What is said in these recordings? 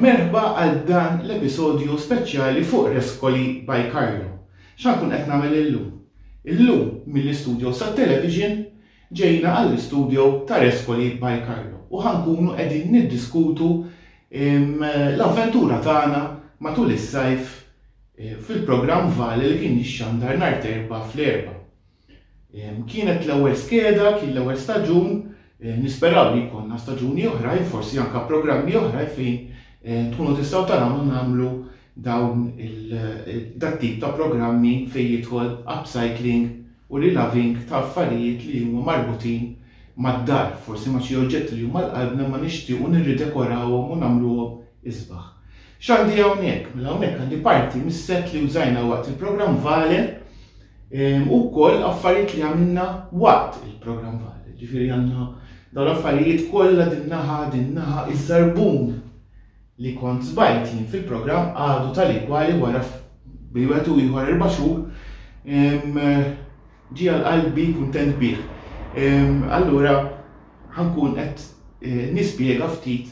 Merħba għal dan l-episodju speċjali fuq Reskoli by Carlo. Xan kun qed nagħmel illum? Illum mill-istudio sa' television ġejna għall-istudio ta' Reskoli by Carlo u ħankunu qegħdin niddiskutu l-avventura tagħna matul is-sajf fil-programm Vale li kien jixxandar nhar t'Erbgħa fl-Erbgħa. Kienet l-ewwel skeda, kien l-ewwel staġun, nisperaw li jkollna staġuni oħrajn, forsi anke programmi oħrajn fejn tkunu tistgħu tarawna nagħmlu dawn dat-tip ta' programmi fejn jidħol upcycling u rilaving ta' affarijiet li huma marbutin mad-dar, forsi ma' xi oġġetti li huma 'l qalbna imma nixtiequ nirridekorawhom u nagħmluhom isbaħ. X'għandi hawnhekk? Mela hawnhekk għandi parti mis-set li użajna waqt il-programm Vale u wkoll affarijiet li għamilna waqt il-programm Vale. Ġifieri għandna dawn l-affarijiet kollha din naħa, din naħa, iż-żarbun li kont sbajt jien fil-programm għadu tali kwali wara bejn wieħed u ieħor erba' xhur ġie għal qalbi kuntent bih. Allura ħankun qed eh, nispjega ftit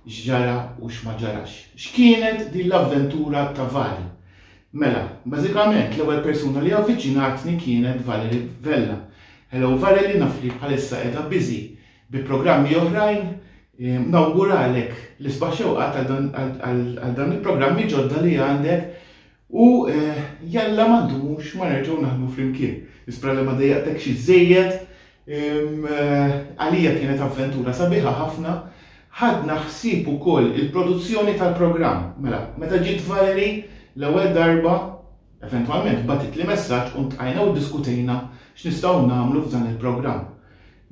x'ġara u x'ma ġarax. X'kienet din l-avventura ta' Vali? Mela, bażikament l-ewwel persuna li avviċinatni kienet Valerie Vella. Hello Valerie, naf li bħalissa qiegħda biżi bi programmi oħrajn, Nawguralek l-isbaħ xewqat għal dawn il-programmi ġodda li għandek u eh, jalla m'għandux ma nerġgħu naħdmu flimkien. Nispra li ma dejjaqtek xi żejjed eh, għalija kienet avventura sabiħa ħafna ħadna ħsieb ukoll il-produzzjoni tal-programm. Mela, meta ġiet Valeri l-ewwel darba, eventwalment batit li messaġġ u ntqajna u diskutejna x'nistgħu nagħmlu f'dan il-programm.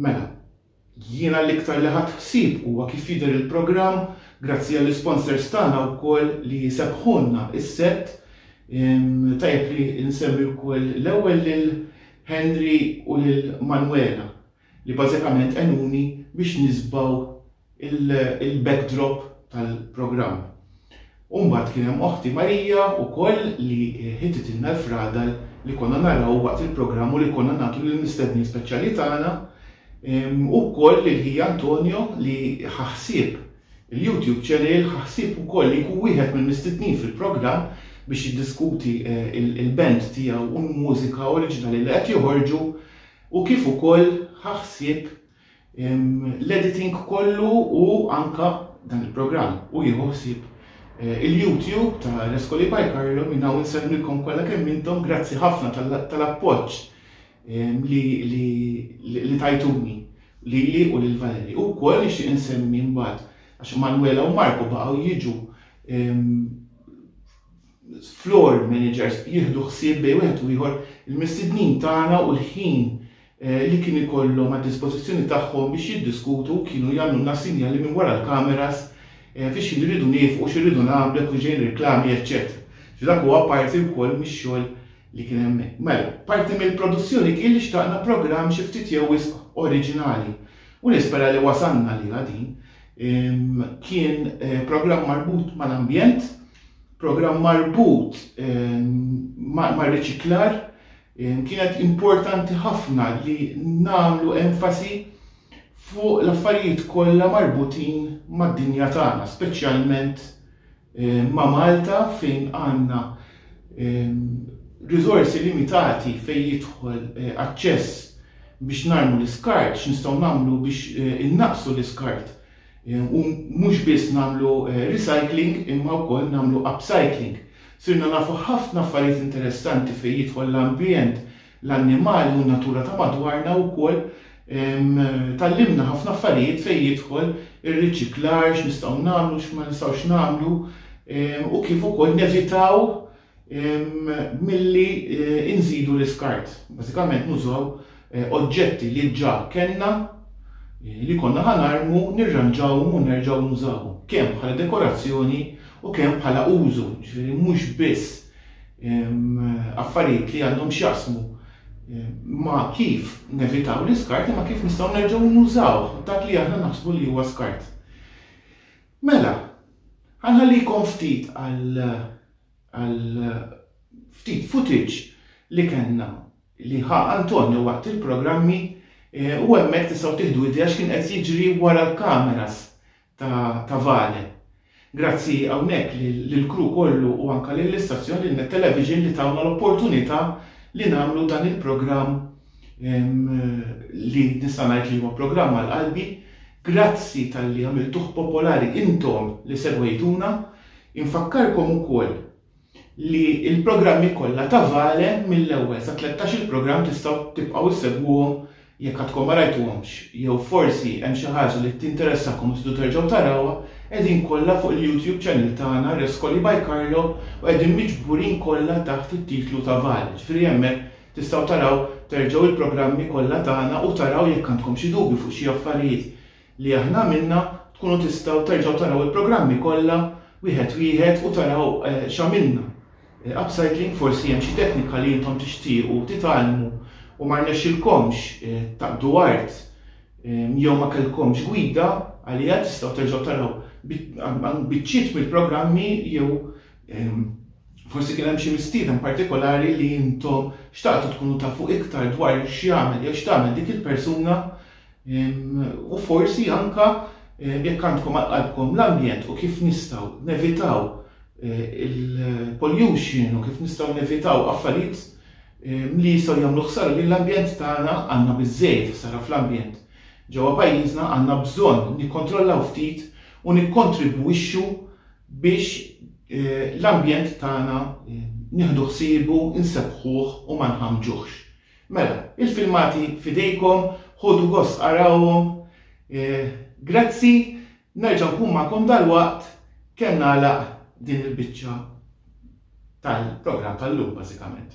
Mela, Jiena l-iktar li ħadt ħsieb huwa kif jidher il-programm grazzi għall-isponsors tagħna wkoll li sebbħulna s-sett. Tajjeb li nsemmi wkoll l-ewwel lil Henry u lil Manuela li bażikament għenuni biex nisbgħu l-backdrop tal-programm. U mbagħad kien hemm Oħti Marija wkoll li ħititilna l-fradal li konna naraw waqt il-programm u li konna nagħtu lill-mistednin speċjali tagħna, u wkoll lil ħija Antonio li ħa ħsieb il-YouTube channel, ħa ħsieb ukoll li jkun wieħed mill-mistednin fil-programm biex jiddiskuti l-band tiegħu u l-mużika oriġinali li qed joħorġu u kif ukoll ħa ħsieb l-editing kollu u anka dan il-programm u jieħu ħsieb eh, il-YouTube ta' Rescoli by Carlo minn hawn insellmilkom kollha kemm intom grazzi ħafna tal-appoġġ li tajtuni li li u lil Valeri. U koll nixtieq insemmi mbagħad għax Manuela u Marko baqgħu jiġu floor managers jieħdu ħsieb bej wieħed u ieħor il-mistednin tagħna u l-ħin li kien ikollhom għad-dispożizzjoni tagħhom biex jiddiskutu kienu jagħmlulna sinjali minn wara l-kameras fi x'ħin irridu niefqu, x'irridu nagħmlu, jekk kienx ġejjin reklami, eċċetera. Ġifieri dak huwa parti wkoll mix-xogħol li kien hemmhekk. Mela, parti mill-produzzjoni kien li xtaqna programm xi ftit jew wisq oriġinali u nispera li wasalna għaliha din. Kien programm marbut mal-ambjent, programm marbut mar-riċiklar, Kienet importanti ħafna li nagħmlu enfasi fuq l-affarijiet kollha marbutin mad-dinja tagħna, speċjalment ma' Malta fejn għandna riżorsi limitati fejn jidħol aċċess biex narmu l-iskart, x'nistgħu nagħmlu biex innaqqsu l-iskart. U mhux biss nagħmlu recycling imma wkoll nagħmlu upcycling. Sirna nafu ħafna affarijiet interessanti fejn jidħol l-ambjent, l-annimali u n-natura ta' madwarna u wkoll tgħallimna ħafna affarijiet fejn jidħol ir-riċiklar, x'nistgħu nagħmlu, x'ma nistgħux nagħmlu u kif ukoll nevitaw milli nżidu l-iskart. Bażikament nużaw oġġetti li ġa kellna li konna ħa narmu, nirranġawhom u nerġgħu nużawhom, kemm bħala dekorazzjoni u kemm bħala użu, jiġifieri mhux biss affarijiet li għandhom x'jaqsmu ma' kif nevitaw l-iskart imma kif nistgħu nerġgħu nużawh dak li aħna naħsbu li huwa skart. Mela, ħa nħallikom ftit għal għal ftit footage li kellna li ħa Antonio waqt il-programmi u hemmhekk tistgħu tieħdu idea x'kien qed jiġri wara l-kameras ta' Vale. Grazzi hawnhekk lill-crew kollu u anke lill-istazzjon lil Net Television li tawna l-opportunità li nagħmlu dan il-programm li nista' ngħid li huwa programm għal qalbi. Grazzi talli għamiltuh popolari intom li segwejtuna. Infakkarkom ukoll li l-programmi kollha ta' Vale mill-ewwel sa tlettax-il programm tistgħu tibqgħu issegwuhom jekk għadkom ma rajtuhomx jew forsi hemm xi ħaġa li tinteressakom u tridu terġgħu tarawha, qegħdin kollha fuq il-YouTube channel tagħna Rescoli by Carlo u qegħdin miġburin kollha taħt it-titlu ta' Vale, ġifieri hemmhekk tistgħu taraw terġgħu l-programmi kollha tagħna u taraw jekk għandkom xi dubju fuq xi affarijiet li aħna għamilna, tkunu tistgħu terġgħu taraw il-programmi kollha wieħed wieħed u taraw x'għamilna. Upcycling forsi hemm xi teknika li intom tixtiequ titgħallmu u ma rnexxilkomx taqdu art jew ma kellkomx gwida għaliha tistgħu terġgħu taraw biċċiet mill-programmi jew forsi kien hemm xi mistieden partikolari li intom xtaqtu tkunu tafu iktar dwar x'jagħmel jew x'tagħmel dik il-persuna U forsi anke jekk għandkom għal qalbkom l-ambjent u kif nistgħu nevitaw il-pollution u kif nistgħu nevitaw affarijiet li jistgħu jagħmlu ħsara lill-ambjent tagħna għandna biżżejjed ħsara fl-ambjent. Ġewwa pajjiżna għandna bżonn nikkontrollaw ftit u nikkontribwixxu biex l-ambjent tagħna nieħdu ħsiebu, insebbħuh u ma nħammġuhx. Mela, il-filmati f'idejkom, ħodu gost arawhom. Grazzi, nerġa' nkun magħkom dalwaqt kemm nagħlaq din il-biċċa tal-programm tal-lum bażikament.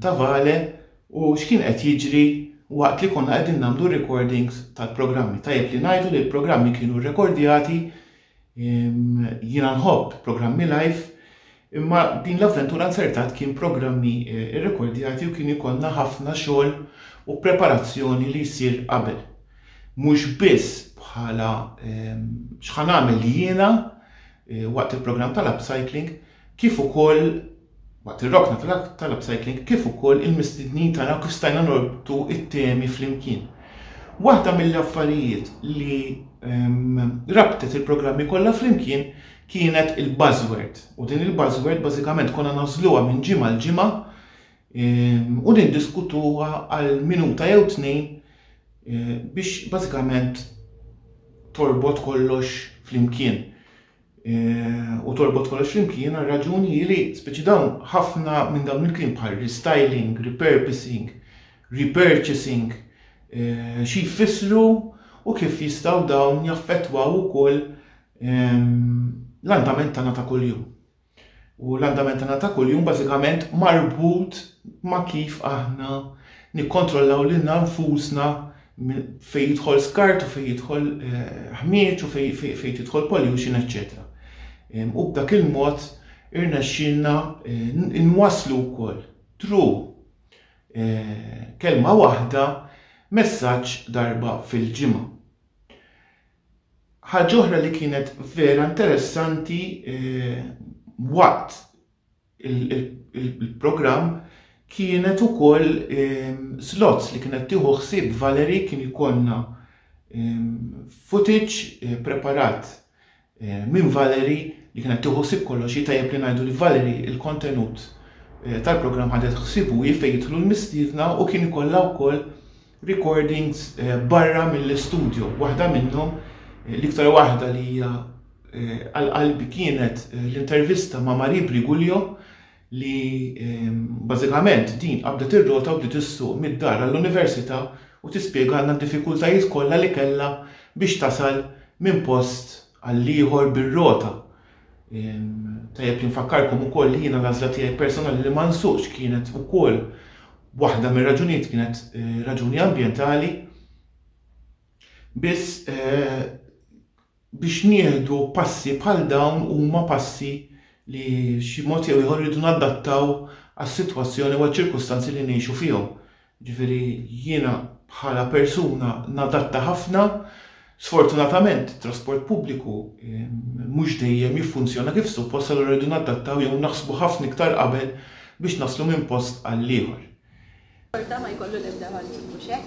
Tavale u x'kien qed jiġri waqt li konna qegħdin nagħmlu recordings tal-programmi. Tajjeb li ngħidu li l-programmi kienu rrekordjati, jiena nħobb programmi live, imma din l-avventura nzertat kien programmi eh, rrekordjati u kien ikollna ħafna xogħol u preparazzjoni li jsir qabel. Mhux biss bħala x'ħan għamel jiena eh, waqt il-programm tal-upcycling, kif ukoll waqt ir-rokna tal-upcycling, kif ukoll il-mistednin tagħna u kif stajna norbtu t-temi flimkien. Waħda mill-affarijiet li ehm, rabtet il-programmi kollha flimkien kienet il-buzzword. U din il-buzzword bażikament konna nażluha minn ġimgħa l ġimgħa ehm, u niddiskutuha għal minuta jew tnejn eh, biex bażikament torbot kollox flimkien. u torbot kollox flimkien għal raġuni li speċi dawn ħafna minn dawn il-kliem bħal restyling, repurposing, repurchasing, eh, xi jfissru u kif jistgħu dawn jaffettwaw ukoll ehm, l-andament tagħna ta' kuljum. U l-andament tagħna ta' kuljum bażikament marbut ma' kif aħna nikkontrollaw lil nfusna fejn jidħol skart u fejn jidħol ħmieġ u fejn tidħol pollution, eċċetera. U b'dak il-mod irnexxielna nwasslu wkoll tru kelma waħda messaġġ darba fil-ġimgħa. Ħaġa oħra li kienet vera interessanti waqt il-programm kienet ukoll ehm, slots li kienet tieħu ħsieb Valerie kien ikollna ehm, footage eh, preparat eh, minn Valerie li kienet tieħu ħsieb kollox jitajjeb li ngħidu li Valerie il-kontenut eh, tal-programm ħadet ħsibu jifej jidħlu l-mistiedna u kien ikollha wkoll recordings barra mill-istudjo. Waħda minnhom, l-iktar waħda li hija għal qalbi kienet l-intervista ma' Marie Briguglio li bażikament din qabdet ir-rota u bdiet issuq mid-dar għall-università u tispjegalna d-diffikultajiet kollha li kellha biex tasal minn post għall-ieħor bir-rota. Tajjeb li nfakkarkom ukoll li jiena l-għażla tiegħi personali li ma nsuqx kienet ukoll waħda mir-raġunijiet kienet eh, raġuni ambjentali biss eh, biex nieħdu passi bħal dawn huma passi li xi mod jew ieħor rridu nadattaw għas-sitwazzjoni u ċirkustanzi li ngħixu fihom. Jiġifieri jiena bħala persuna nadatta ħafna, sfortunatament it-trasport pubbliku mhux dejjem jiffunzjona kif suppost allura rridu nadattaw jew naħsbu ħafna iktar qabel biex naslu minn post għall-ieħor. Xorta ma jkollu l-ebda valur, mhux hekk?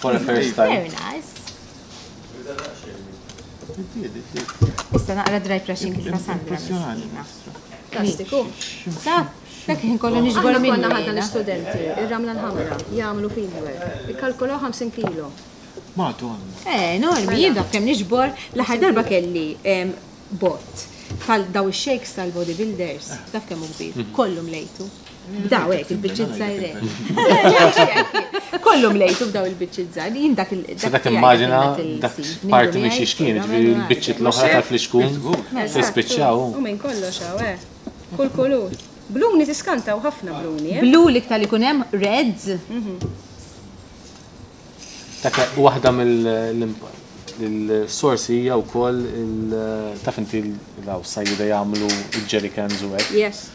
For a first time. Very nice. Issa naqra dry brushing kif Sandra. Plastiku. Sa, dak ħin kollu nixbor minn. Konna ħadna l-istudenti, ir-ramla l-ħamra, jagħmlu fidwer, ikkalkulaw 50 kilo. Madonna. Eh, normi, mela. jien dak kemm nixbor, l-aħħar darba kelli bot tal daw ix-shakes tal-bodybuilders, taf kemm kbir, mhm. kollu mlejtu. Bdaw hekk il-biċċiet żgħiret. Kollhom lejtu bdaw il-biċċiet żgħir. Jien dak il Se dak immaġina dak parti minn xi xkien, ġifieri l-biċċiet l-oħra tal-flixkun se spiċċaw. U minn kollox hawn, eh. Kull kulur. Bluni tiskanta u ħafna bluni. Eh? Blu li ktar ikun hemm reds. Mhm. Dak waħda mill-sorsi hija wkoll il-taf inti l-għaw sajjida jagħmlu il-jerry cans u hekk. Yes.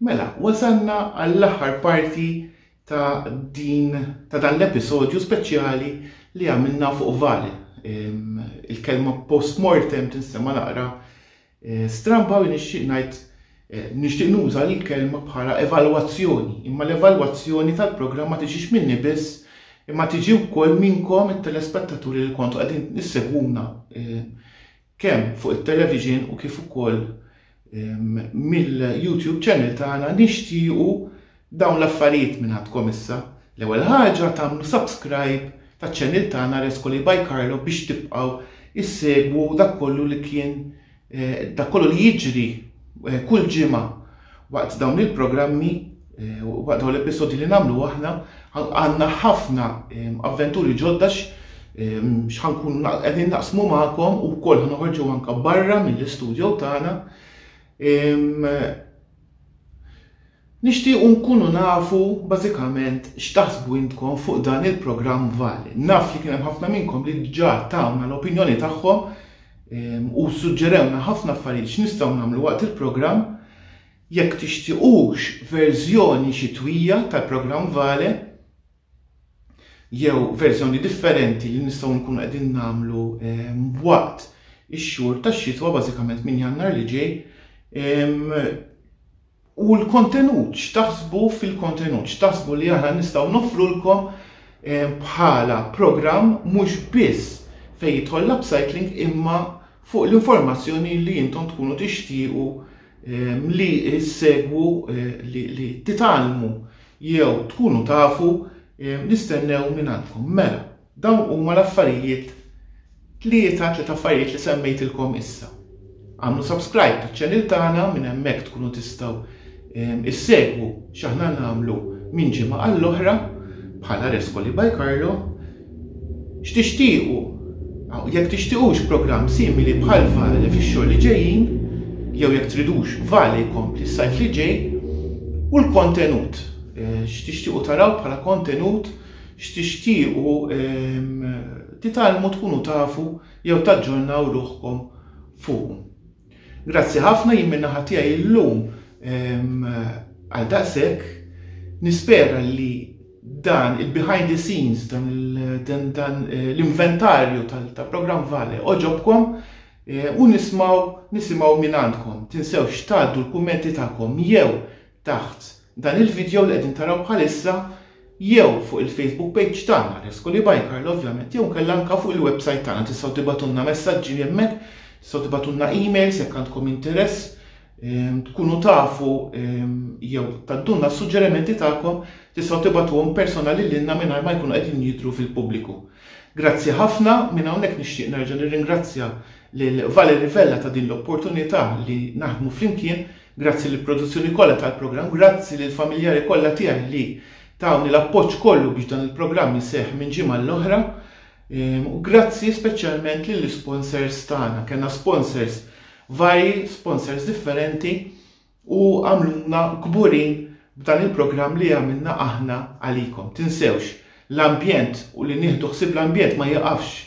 Mela, wasalna għall-aħħar parti ta' din ta' dan l-episodju speċjali li għamilna fuq Val. Il-kelma postmortem tinstema' naqra eh, stramba u nixtieq ngħid Eh, nixtieq nuża l-kelma bħala evalwazzjoni, imma l-evalwazzjoni tal-programm ma tiġix minni biss, imma tiġi wkoll minnkom it-telespettaturi li kontu qegħdin nissegwuna eh, kemm fuq it-television u kif ukoll mill-YouTube channel tagħna nixtiequ dawn l-affarijiet minn għandkom issa. L-ewwel ħaġa tagħmlu subscribe taċ-channel tagħna Rescoli by Carlo biex tibqgħu issegwu dak kollu li kien eh, dak kollu li jiġri eh, kull ġimgħa waqt dawn il-programmi Waqt dawn l-episodji li nagħmlu aħna għandna ħafna avventuri ġodda x'ħankunu qegħdin naqsmu magħkom u wkoll ħanoħorġu anke barra mill-istudjo tagħna. Nixtiequ nkunu nafu bażikament x'taħsbu intkom fuq dan il-programm Vali. Naf li kien hemm ħafna minnkom li ġa tawna l-opinjoni tagħhom ehm, u suġġerewna ħafna affarijiet x'nistgħu nagħmlu waqt il-programm. Jekk tixtiequx verżjoni xitwija tal-programm Vale, jew verżjoni differenti li nistgħu nkunu qegħdin nagħmlu waqt ix-xhur tax-xitwa bażikament minn Jannar li ġej, u l-kontenut, x'taħsbu fil-kontenut, x'taħsbu li aħna nistgħu noffrulkom bħala programm mhux biss fejn jidħol l-upcycling imma fuq l-informazzjoni li intom tkunu tixtiequ li ssegwu li titgħallmu jew tkunu tafu nistennew minn għandkom. Mela, dawn huma l-affarijiet tlieta tliet affarijiet li semmejtilkom issa. Għamlu subscribe taċ-channel tagħna minn hemmhekk tkunu tistgħu issegwu x'aħna nagħmlu minn ġimgħa għall-oħra bħala Rescoli by Carlo X'tixtiequ? Aw, jekk tixtiequx programm simili bħal Vale fix-xhur li ġejjin, jew jekk tridux Vale jkompli s-sajf li ġej, u l-kontenut, x'tixtiequ taraw bħala kontenut, x'tixtiequ titgħallmu tkunu tafu jew taġġornaw ruħkom fuqu. Grazzi ħafna jien min-naħa tiegħi llum għal daqshekk nispera li dan il-behind the scenes, dan eh, l-inventarju tal-programm Vale oġobkom eh, u nismaw nisimaw minn għandkom. Tinsewx tgħaddu l-kummenti tagħkom jew taħt dan il-vidjow li qegħdin taraw bħalissa jew fuq il-Facebook page tagħna Rescoli by Carlo ovvjament jew inkella anke fuq il-website tagħna tistgħu tibgħatulna messaġġi hemmhekk, tistgħu tibgħatulna emails jekk għandkom interess, ehm, tkunu tafu ehm, jew taddunna s-suġġerimenti tagħkom tistgħu tibgħatuhom personali lilna mingħajr ma jkunu qegħdin jidhru fil-pubbliku. Grazzi ħafna minn hawnhekk nixtieq nerġa' nirringrazzja lil Valerie Vella ta' din l-opportunità li naħdmu flimkien Grazzi lill-produzzjoni kollha tal-programm, grazzi lill-familjari kollha tiegħi li tawni l-appoġġ kollu biex dan il-programm iseħħ minn ġimgħa l-oħra. U grazzi speċjalment lill-isponsors tagħna. Kellna sponsors varji, sponsors differenti u għamluna kburin b'dan il-programm li għamilna aħna għalikom. Tinsewx, l-ambjent u li nieħdu ħsieb l-ambjent ma jiqafx